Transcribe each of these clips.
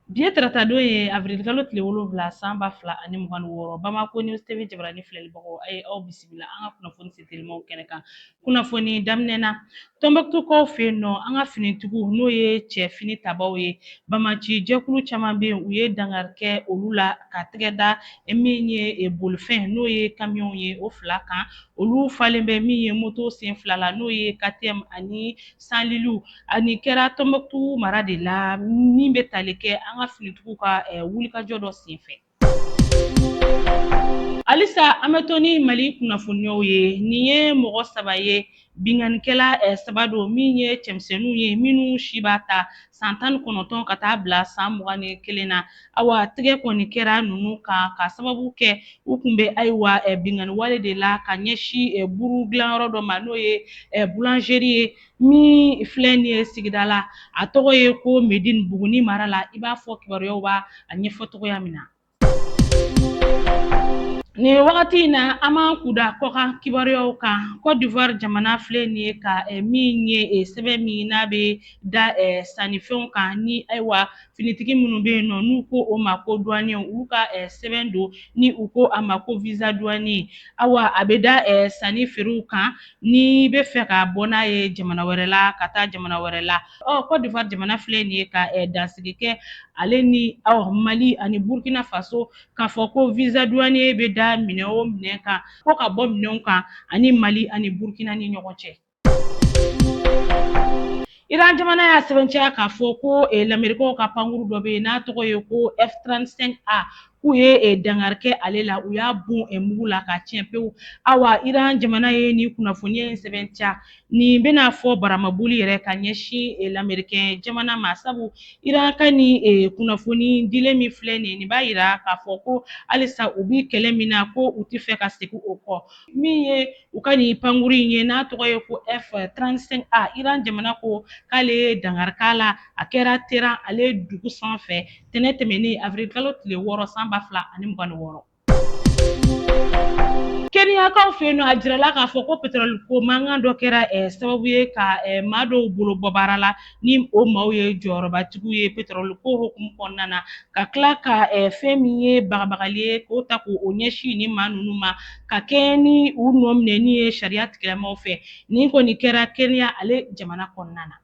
Bi ye tarata don ye avril kalo tile wolonwula san ba fila ani mugan ni wɔɔrɔ Bamako News TV jabarani filɛlibagaw a ye aw bisimila an ka kunnafoni setelimaw kɛnɛ kan. Kunnafoni daminɛ na, Tɔnbɔkutukaw fɛ yen nɔ, an ka finitigiw n'o ye cɛ fini tabaaw ye, banbaanci jɛkulu caman bɛ yen, u ye dankari kɛ olu la ka tɛgɛ da min ye bolifɛn n'o ye kamiyɔnw ye, o fila kan, olu falen bɛ min ye moto sen fila la, n'o ye KTM ani sanliliw a nin kɛra tɔnbɔkutu mara de la min bɛ tali kɛ an ka finitigiw ka eh, wulikajɔ dɔ senfɛ halisa an bɛ to ni mali kunnafoniyaw ye nin ye mɔgɔ saba ye binkannikɛla eh, saba don min ye cɛmisɛnninw ye minnu si b'a ta san tan ni kɔnɔntɔn ka taa bila san mugan ni kelen na Awa tɛgɛ kɔni kɛra ninnu kan k'a sababu kɛ u tun bɛ ayiwa binkanni wale de la ka ɲɛsin buru dilanyɔrɔ dɔ ma n'o ye boulangerie ye min filɛ nin ye sigida la a tɔgɔ ye ko Medine Buguni mara la i b'a fɔ kibaruyaw b'a ɲɛfɔ cogoya min na. Nin wagati in na an b'an kun da kɔkan kibaruyaw kan Cote d'Ivoire jamana filɛ nin ye ka min ye sɛbɛn min n'a bɛ da sannifɛnw kan ni ayiwa finitigi minnu bɛ yen nɔ n'u ko o ma ko douanierw olu ka sɛbɛn don ni u ko a ma ko visa douanier awa a bɛ da sanni feerew kan n'i bɛ fɛ ka bɔ n'a ye jamana wɛrɛ la ka taa jamana wɛrɛ la ɔ Côte d'Ivoire jamana filɛ nin ye ka dansigi kɛ ale ni ɔ Mali ani Burkina Faso k'a fɔ ko visa douanier bɛ da minɛn o minɛn kan k'o ka bɔ minɛnw kan ani Mali ani Burkina ni ɲɔgɔn cɛ. Iran jamana y'a sɛbɛntiya k'a fɔ ko eh, lamerikɛnw ka pankuru dɔ bɛ yen n'a tɔgɔ ye ko F-35A k'u ye eh, dankari kɛ ale la u y'a bon eh, mugu la k'a tiɲɛ pewu awa Iran jamana ye nin kunnafoniya in sɛbɛntiya nin b'i n'a fɔ baramaboli yɛrɛ ka ɲɛsin eh, lamerikɛn jamana ma sabu Iran ka nin eh, kunnafoni dilen min filɛ nin ye nin b'a yira k'a fɔ ko halisa u bɛ kɛlɛ min na ko u tɛ fɛ ka segin o kɔ min ye u ka nin pankuru in ye n'a tɔgɔ ye ko F-35A Iran jamana ko k'ale ye dankari k'a la a kɛra Teheran ale dugu sanfɛ tɛnɛn tɛmɛnen avril-kalo tile wɔɔrɔ san ba fila ani mugan ni wɔɔrɔ. Keniyakaw fɛ yen nɔ, a jirala k'a fɔ ko petrɔli ko mankan dɔ kɛra sababu ye ka maa dɔw bolo bɔ baara la ni o maaw ye jɔyɔrɔbatigiw ye petroli ko hukumu kɔnɔna na ka tila ka fɛn min ye bagabagali ye k'o ta k'o ɲɛsin nin maa ninnu ma ka kɛɲɛ ni u nɔminɛni ye sariya tigilamaaw fɛ nin kɔni kɛra Keniya ale jamana kɔnɔna na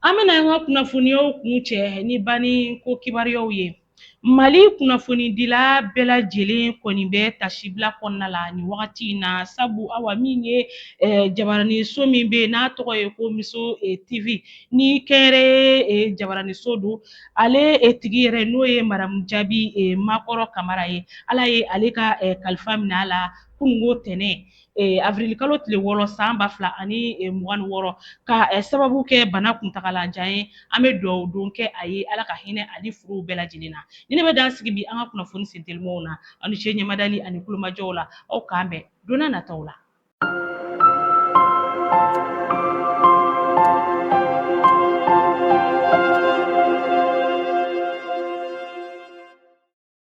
an bɛna an ka kunnafoniyaw kuncɛ ni banni ko kibaruyaw ye Mali kunnafonidila bɛɛ lajɛlen kɔni bɛ tasibila kɔnɔna la nin wagati in na sabu awa min ye jabaraninso min bɛ yen n'a tɔgɔ ye ko muso tv ni kɛnyɛrɛye jabaraninso don ale tigi yɛrɛ n'o ye madamu jabi makɔrɔ kamara ye ala ye ale ka kalifa minɛ a la kununko tɛnɛn Eh, avrilikalo tile wɔɔrɔ san ba fila ani eh, mugan ni wɔɔrɔ ka eh, sababu kɛ bana kuntagalajan ye an bɛ dugawu don kɛ a ye ala ka hinɛ a ni furew bɛɛ lajɛlen na nin de bɛ dan sigi bi an ka kunnafoni sentelimaw na aw ni ce ɲɛmadali ani tulomajɔw la aw k'an bɛn donna nataw la